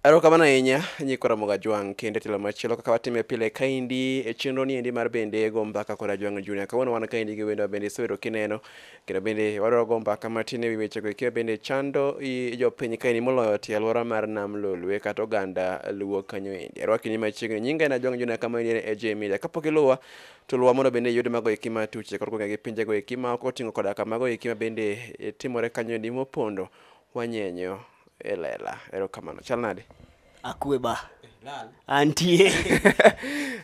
Erokamano ahinya nyikwa Ramoga Jwang' kendo e telo machielo kaka watime pile kaendi e chenro ni endi mar bende go mbaka kod Ajwang' Junior. Kawuono wan kaendi gi wendo bende isewero kineno kendo bende wadwaro go mbaka matin e wi wechego eki bende chando i jopiny kaendi moloyo tie alwora mar Nam Lolwe kata oganda Luo kanyo endi. Arwakini machiegni nyinga en Ajwang' Junior kama endi en AJ Media. Kapok iluwa to luwa mondo bende iyud mago eki matuche kod gwenge gi pinjego eki ma ok oting'o koda ka mago eki ma bende timore kanyo endi mopondo wanyenyo e lela erokamano chal nade akwe ba antie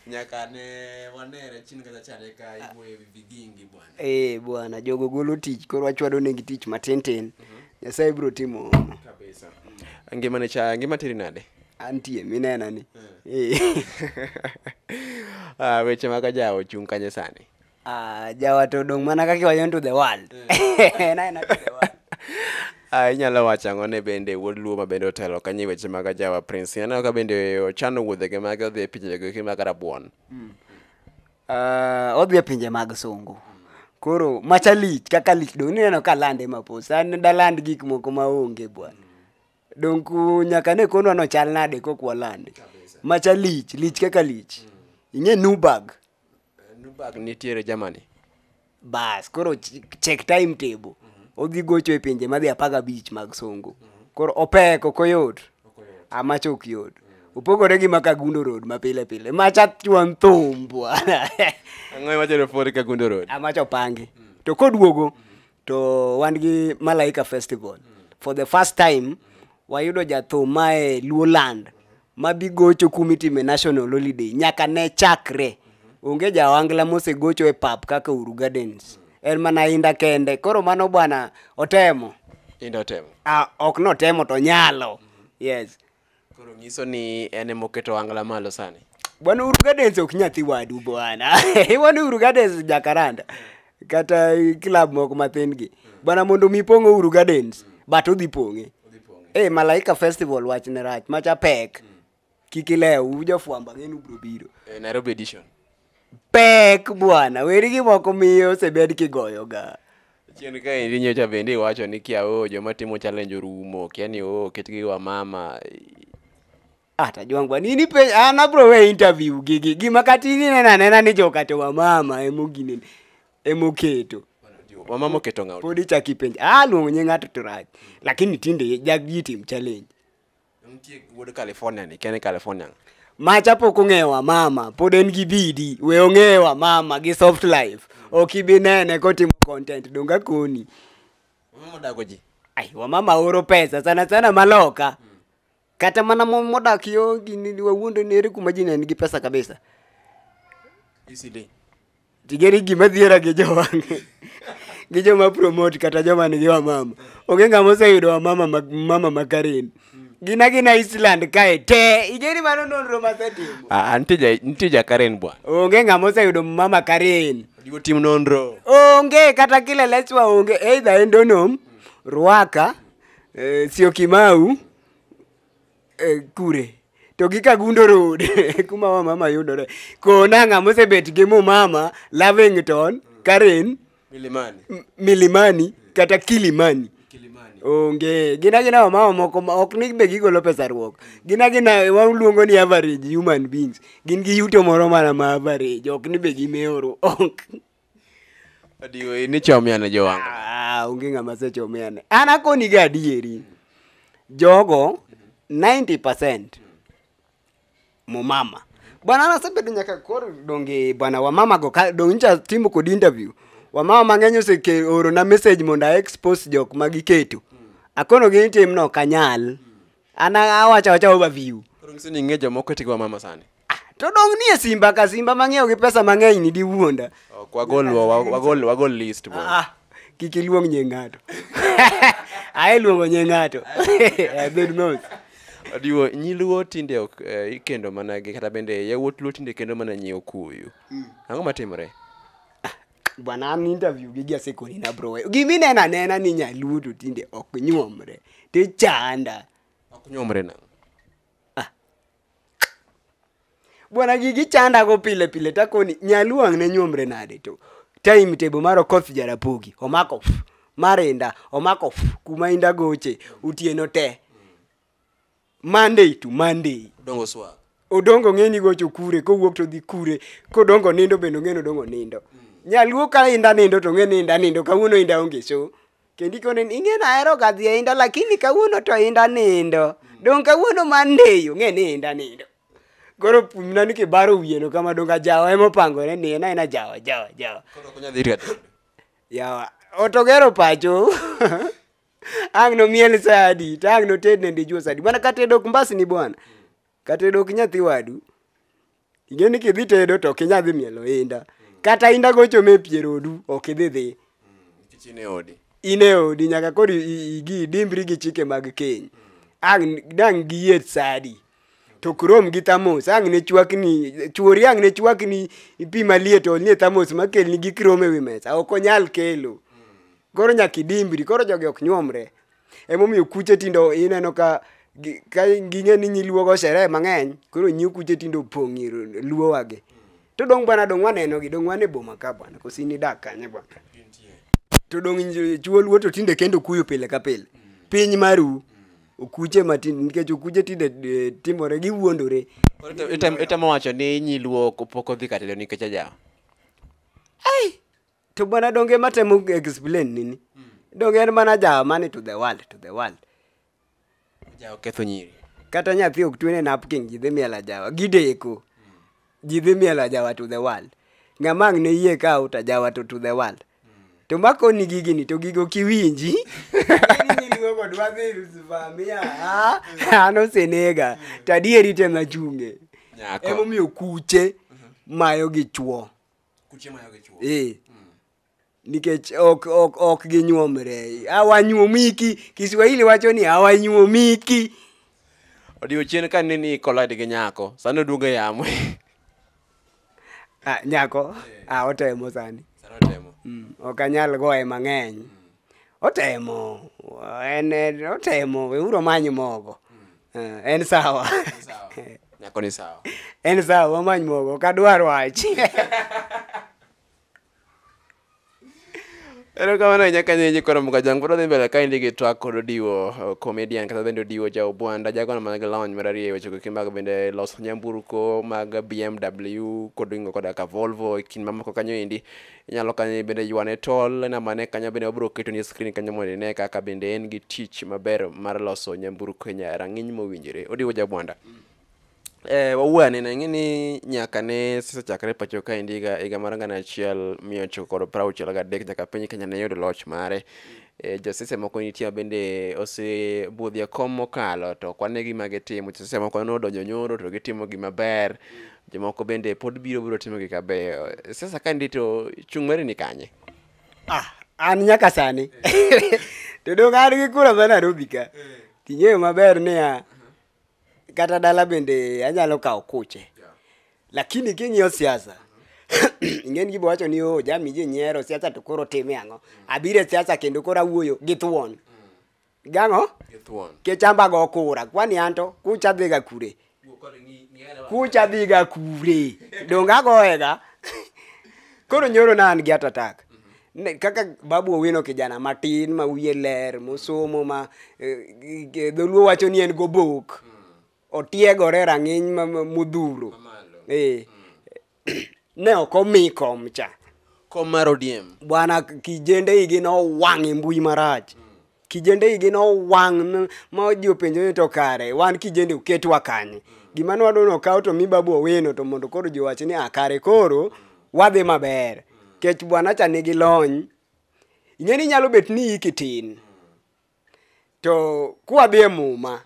nyaka ne wanere chini kata chare ka iwuoyo ewi vigingi bwana eh bwana jogo golo tich koro wachwado negi tich matin tin mhm. nyasaye biro timo kabisa ngima ne cha ngima tiri nade antie minena ni eh. eh. ah, weche mag ajawo chung' kanye sani Ah, jawa to odong' mana kaka iwacho ni to the world. En aena to the world. Ah, inyalo wacho ang'o ne bende wuod luo ma bende otelo kanyo e weche mag ajawa prince ineno ka bende ochano wuodhege mage odhi e pinjego eki mag rabuon Ah, odhi e pinje mag sungu koro macha lich kaka lich dong' nineno ka lande mapos an daland gik moko maonge bwana dong' ku nyaka ne konwa nochal nade kok walande macha lich lich kaka lich ing'e nubag Nubag nitiere Germany. bas koro ch- check time table odhi gocho e pinje madhi apar gabich mag songo koro opek ok oyot amach ok yot opogore gi makagundo road mapile pile macha chuan thum bwana Ang'o iwacho ni Ford Kagundo Road? amach opangi to koduogo to wan gi malaika festival for the first time wayudo jathum mae luoland mabi gocho kumitime national holiday nyaka ne chakre onge jawangla mosegocho e pap kaka uru gardens en mana inda kende koro mano bwana otemo Inda otemo. ah, ok notemo to nyalo yes Koro nyiso ni en ema oketo angla malo sani. Bwana Uhuru Gardens ok nyathi wadu bwana. Bwana Uhuru Gardens Jakaranda. Kata club moko mathin gi. Bwana mondo mi pong Uhuru Gardens but udhi pong'e. Eh Malaika Festival wach ne rach macha pek. Kik ilew uja fwamba ng'enu bro biro. Eh, Nairobi edition. pek bwana weri gi moko miyo osebed kigoyoga chien ka endi nyocha bende iwacho ni kia oo joma timo challenge orumo kia ni oo ketgi wa mama ata jwangwa nini pe an abro we interview gigi gima kata in ineno anena ni jokato wa mama emoginene emoketo wamama oketo ng'aw pod ichak ipenj ah luongo nying ng'ato to rach lakini tinde jagitim challenge Nitie wuod California ni, kene California. Macha pok ong'ewa mama, pod en gi bidi, we ong'ewa mama gi soft life. Ok ibi nene kotimo content donga koni. Mama dago ji. Ai, wamama oro pesa sana sana maloka. Kata mana mo- modak yo gini wawuondo nere kuma ji ne nigi pesa kabisa. Isili. tigeri gima dhiera gi jowang' gi joma promote kata joma nigi wamama onge ng'ama oseyudo wamama ma- mama ma karen gina gina island kae te igeri mano nonro masetimo Ah, ah, nitie ja- nitie ja karen bwana onge ng'ama oseyudo mama karen Onego tim nonro onge kata kile leswa onge either endonom rwaka eh, siokimau eh, kure to gi kagundo road kuma wa mama yudore kona ng'a mosebet gi mu mama lavington karen milimani M- milimani kata kilimani kilimani onge gin agina wamama moko ma ok ni be gigolo pesa ruok gin agina waluongo ni average human beings gin gi yuto moro mana ma average ok ni be gimewo ruok Adiwo in ichomiane jowanga. Ah, onge ng'ama sechomiane. An akoni ga adieri. Jogo 90% mumama. Bwana nasebedo nyaka koro donge bwana wamama go ka donge ncha timo kod interview. Wamama mang'eny oseke oro na message mondo a expose jok ma giketo. Akono gi tim no kanyal. an awacho awacha overview Koro nyiso ni ing'e jomoko e tigo mama sani. to dong nie simba ka simba mang'iewo gi pesa mang'eny ni diwuonda Ok, wagol wa- wa- wagol wagol list bwana. Ah, kik iluong nye ng'ato ae luongo nye ng'ato Eh, bed mos Adiwo nyiluo tinde ok eh, ikendo mana gi kata bende yawuot luo tinde kendo mana nyi okuyu. Ang'o matimore? bwana an interview gi jasekoni na bro gimineno anena ni nyaluo to tinde ok nyuomre tichanda ok nyomre na bwana gigi chandago pile pile takoni nyaluo ang' ne nyuomre nade to time table mar okoth jarapogi omako f mar inda omako f kuma inda goche utieno te Monday to Monday. Dongo swa. Odongo ng'e ni gocho kure, kowuok to dhi kure, kodongo nindo bende ong'e ni odongo nindo. Nyaluo ka inda nindo to ong'e ni inda nindo, kawuono inda onge so. Kendo ikone ni ing'e nahero ga dhi e inda lakini kawuono to inda nindo. Dong' kawuono Monday ong'e ni inda nindo. Koro pumna ni kibaro wiyeno kama dong' ajawa ema opangore ni en aena jawa jawa jawa. Koro ok onyal dhi ir jatelo. Yawa, otogero pacho. ang' nomiel sa adi to ang' noted ne dijuo sa adi mana ka tedo ok mbasni bwana ka tedo ok nyathi wadu ing'e ni kidhi tedo to ok inyal dhi mielo inda kata inda gochome e pier odu ok idhi dhi Nikech in e odi. in e odi nyaka koro i- i- igi idimbri gi chike mag keny ang' dang' giyiet sa adi to ok rom gi thamos ang' ne chwakni chuori ang' ne chwakni pi maliet olnie thamos makelni gi krom e wi mesa ok onyal kelo Koro nyaka idimbri, koro jogi ok nyuomre. Emomiyo kuche tindo ineno ka gi- ka ging'e ni nyiluogo sherehe mang'eny, koro nyiu kuche tindo opong' ir luowagi. To dong' bwana dong' wanenogi, dong' wan e boma ka bwana, koso in idak kanye bwana? To dong' nj- chuo luo to tinde kendo kuyo pile ka pile. Piny maru, okuche matinde, nikech okuche tinde eh, timore, giwuondore. Koro ite- item- itemo wacho ni nyiluo ok- pok odhi ka tedo nikech ajawa to bwana donge matemo explain nini donge en mana jawa mani to the world to the world Jawa ketho nyiri. kata nyathi ok twene napkin ji dhi miel ajawa gideko ji dhi miel ajawa to the world ng'ama ang' ne yie ka out ajawa to to the world to makoni gigini to gigo kiwinji an osenega to adieri tema chunge Nyako. emomiyo kuche mayo gi chwo ee nikech ok ok ok ginyuomre awanyuomiki kiswahili wacho ni awanyuomiki odiochieng ka nini collide gi nyako sani oduogo e yamo ah, nyako ah, otemo sani mm, ok anyal goye mang'eny otemo en otemo weuru omany mogo Eh, en sawa nyako ni sawa en sawa wamany mogo ok adwar wach erokamano ahinya kanyenyi koro mukajang pod odhi mbele kaendi gi twak kod odiwo uh, comedian kata bende odiwo ja obwanda jagono man gi lony mar ariyo e weche goki mag bende loso nyamburko mag bmw kod ingo koda ka volvo e kind mamoko kanyo endi inyalo kanyo bende ywane tol e namba ne kanyo bende wabiro keto ni screen kanyo mondo ine kaka bende en gi tich maber mar loso nyamburko e rang'iny mowinjore odiwo jabwanda Eh, wawuo ane na ng'eni nyaka ne sisechakre pacho ka endi higa higa mar gana achiel miya ochiko kod prauchiel gadek nyaka piny kenya ne yudo loch mare eh, josise moko nitie ma bende osebudhi e kom mokalo to kwane gima gitimo josise moko nodonjo nyoro to gitimo gima ber mm. Jomoko bende pod biro biro timo gik mabeyo. Sasa ka ndi to chung' mari ni kanye? Ah, an nyaka sani. To dong' an gi kura ma Nairobi ka. Ting'eyo maber niya, kata dala bende anyalo kawo kuche. Lakini king'iyo siasa, ing'eni gibo wacho ni oh, jami ji nyiero siasa to koro time ang'o. Abiro e siasa kendo koro awuoyo gi thuon. Gang'o? Githuon. Kichamba go kura. Kwani anto kucha dhiga kure. Kucha dhiga kure. Donga goega. Koro nyoro na an gi atatak. Ne, kaka babu owino kijana matin ma wiye ler mosomo ma eh, eh, dholuo wacho ni en gobok otiegore e rang'iny ma- ma- modhuro Mamalo. eh, ne ok omi kom cha kom mar odiem bwana kijende igi nowang' e mbui marach kijende igi nowang' ma ji openjo ni to kare wan kijende uketwa kanye gima nwadwa nokaw to mi babu owino to mondo koro ji owach ni a ah, kare koro wadhi maber kech bwana cha nigi lony ing'e ni nyalo bet ni iki tin to kwadhi e muma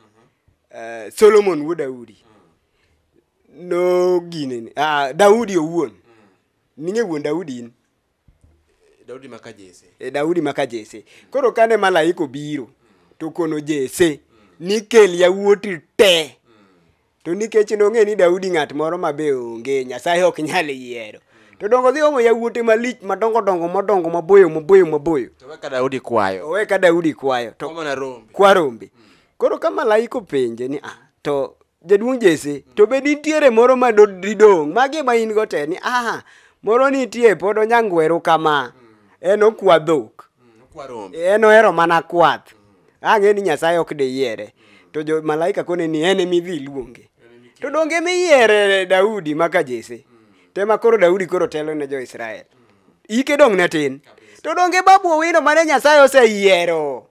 uh, solomon wuod daudi nogineni uh, ah, daudi owuon ning'e wuon daudi in daudi maka jese e eh, daudi maka jese koro kane malaika obiro to kono jese nikel yawuoti te To nikech nong'e ni Daudi ng'at moro ma be onge, Nyasaye ok nyal yiero. To dongo dhi omo yawuote malich madongo dongo modongo maboyo maboyo maboyo. To weka Daudi kwayo. Owe ka Daudi kwayo to Omana rombe. kwa rombe. Koro ka malaika openje ni ah, to jaduong' Jesse, to be nitiere moro ma do- didong'? Magi ma in go te ni ah, moro nitie pod onyangweru kama. En okwa dhok. Kwa rombe. En ohero mana kwath. ang'e ni nyasaye ok deyiere to jo malaika kone ni en emidhi iluonge to donge emiyiere daudi maka jese tema koro daudi koro telo ne jo-israel ike dong' ne tin to donge babu owino mane nyasaye oseyiero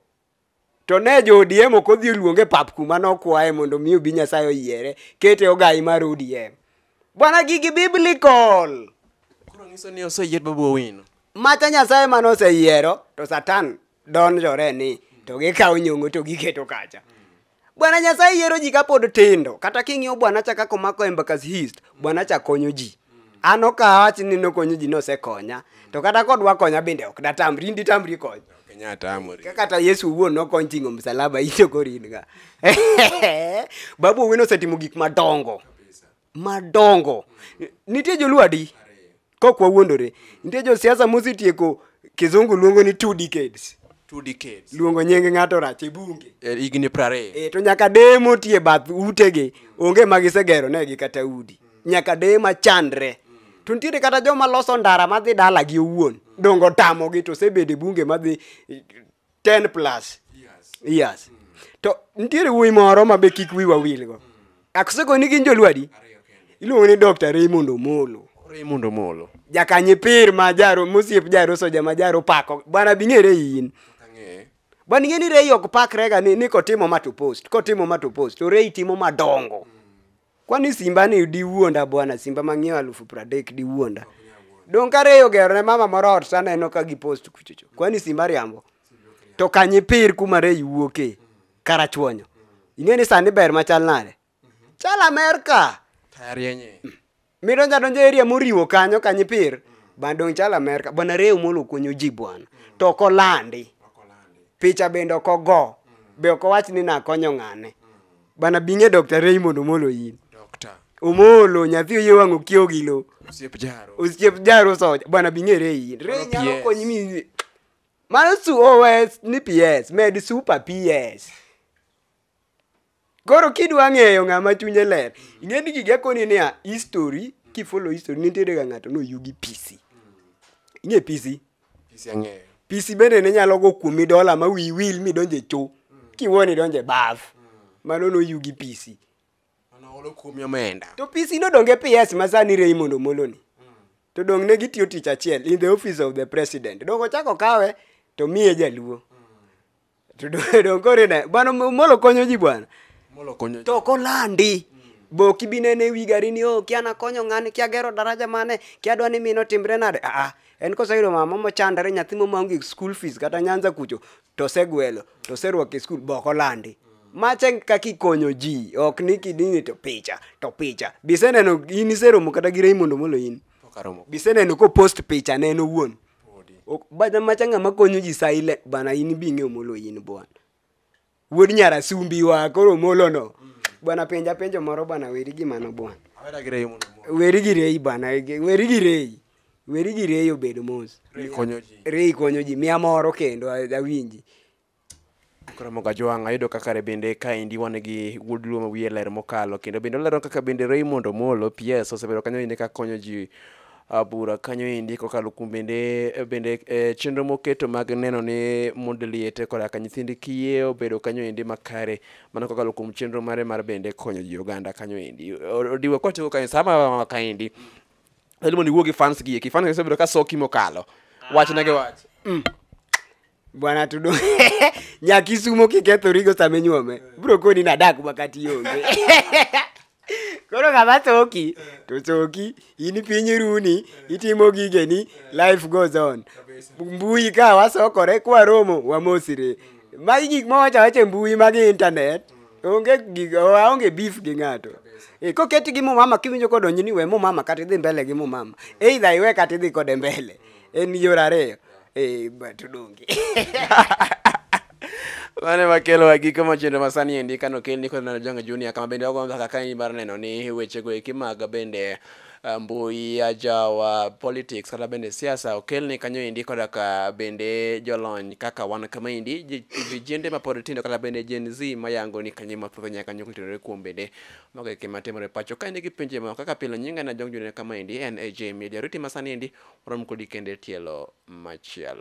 to ne jo odm ok odhi oluonge pap kuma nokwaye mondo mi obi nyasaye oyiere kete ogai mar odm bwana gigi biblical koro nyiso ni oseyier babu owino mata nyasaye mane oseyiero to satan donjore ni to gikawo nyongo to giketo kacha bwana nyasaye yiero ji kapod tindo kata king'iyo bwana cha kaka omako embakas hist bwana cha konyo ji an okawach ni nokonyo ji nosekonya to kata kodwa konya bende ok datamri ndi tamri konya Ka kata yesu owuon nokony ting'o msalaba ito koringa babu owino osetimo gik madongo madongo nitie joluo adi kok wawuondore nitie josiasa mosetieko kizungu luongo ni two decades two decades luongo nying ng'ato rach e bunge e, higni prariyo e, to nyaka deye motie bath utegi onge ma gisegero negi kata udi nyaka deye machandre to nitiere kata joma loso ndara madhi dalagi owuon dongo tamogi to osebede bunge madhi 10 plus years to nitiere wuoyi moro ma be kik wiwa wilgo akosekoni ni gin jolwadi iluongo ni dr raymond omolo Raymond Omolo. jakanye pir ma jaro mosiep jaro soja ma jaro pako bwana bing'ere in bwana ing'e ni rei ok pakrega ni, ni kotimo ma to post kotimo ma to post to rei timo madongo Kwani simba ni diwuonda bwana, simba mang'iew alufu pradek diwuonda. Dong' kareyo gero ne mama moro ot taneno ka gipost kuchocho. Kwani simba riambo? To kanyipir kuma rei wuoke, karachuonyo. Ing'e ni sani ber machal nade? Chal Amerka. Tarienye. Midonjo adonjo area moriwo kanyo kanyipir, bana dong' chal Amerka. Bwana Reo Molo konyo ji bwana, to ok olandi. Picha bende ok ogo, be ok owach ni nakonyo ng'ane. Bana binge Dr. Raymond Omolo in. Dokta. Omolo nyathi oye wang' okiewo gi lo. Osiep jaro. Osiep jaro soja. Bana binge re in. Re Mano nyalo PS. konyi mi. Mano su OS ni PS med super PS. Koro kidwa ng'eyo ng'ama chunye ler, ing'e ni gige koni niya history, kifollow history nitiere ga ng'ato noyugi PC. Ing'e PC? Pisi ang'eyo. pisi bende ne nyalo go kuomi dola ma wiyi wil midonje cho kiwuon idonje baf mano noyugi pisi Mano olo kuomi omenda. to pisi nodonge ps ma sani Raymond Omolo ni to dong ne gitiyo tich achiel in the office of the president dong ochako kawe to miye jaluo To do- donge koro ine bwana molo konyo ji bwana Molo konyo. to kolandi boki binene wi gari ni o kia nakonyo ng'ani kia gero daraja mane kia dwa ni mino timre nade aa en koseyudo mama mochandore nyathi momaonge school fees kata nyanza kucho to osegwelo to oserwako e skul bok olandi mache kaka ikonyo ji ok ni kidini to picha to picha biseneno in iseromo kata gi Raymond Omolo in Okaromo. biseneno kopost picha ne en owuon Ok- bana macha ng'ama konyo ji silent bana in bi ing'eyo molo in bwana wuod nyara sumbi wa koro molono bwana penja penjo moro bwana weri gi mano bwana Awera gi rei mondo mo- weri gi rei bwana ge- weri gi rei weri gi rei obedo mos rei konyo ji. rei konyo ji mia moro kendo a- awinji Koro moga jwang' ayudo ka kare bende kaendi wan gi wuod luo ma wiye ler mokalo kendo bende olero kaka bende Raymond Omolo PS osebedo kanyo inde ka konyo ji ah, bura kanyo endi kokalo kuom bende bende eh, chenro moketo mag neno ni mond liete koda ka nyithind kiye obedo kanyo endi makare mano kokalo kuom chenro mare mar bende konyo ji oganda kanyo endi O- odiwo kotigo kae sama kaendi Edmond iwuo gi fans gi eki fans gi osebedo ka soki mokalo wach na gi wach bwana tudo nyakisumo kikethorigo sama inyuome bro koni nadak makati onge koro kama soki to soki in piny runi itimo gigeni life goes on mbui ka wasokore kwaromo wamosire magi gik mawacha wacha e mbui magi internet onge gig- waonge beef gi ng'ato Eh, koketi gi mumama kiwinjo kodonjo ni we mumama kata idhi mbele gi mumama eidha iwe kata idhi kode mbele en yor ariyo Eh, but udonge. mane makelo wa giko machendo masani endi kano kel niko neno jonga junior kama bende ogo mbaka kani bar neno ni weche go eki mag bende ah, mbui ajawa politics kata bende siasa okel ni kanyo endi koda ka bende jolony kaka wan kama endi ji- vijende mapod tindo kata bende Gen Z mayango ni kanyo mathoth nyaka kanyo kutirore kuom bende Mago e gik ma timore pacho ka in gi penjo moro kaka pile nyinga ne ajong junene kama endi en AJ Media riti ma sani endi warom kodi kendo e tielo machielo.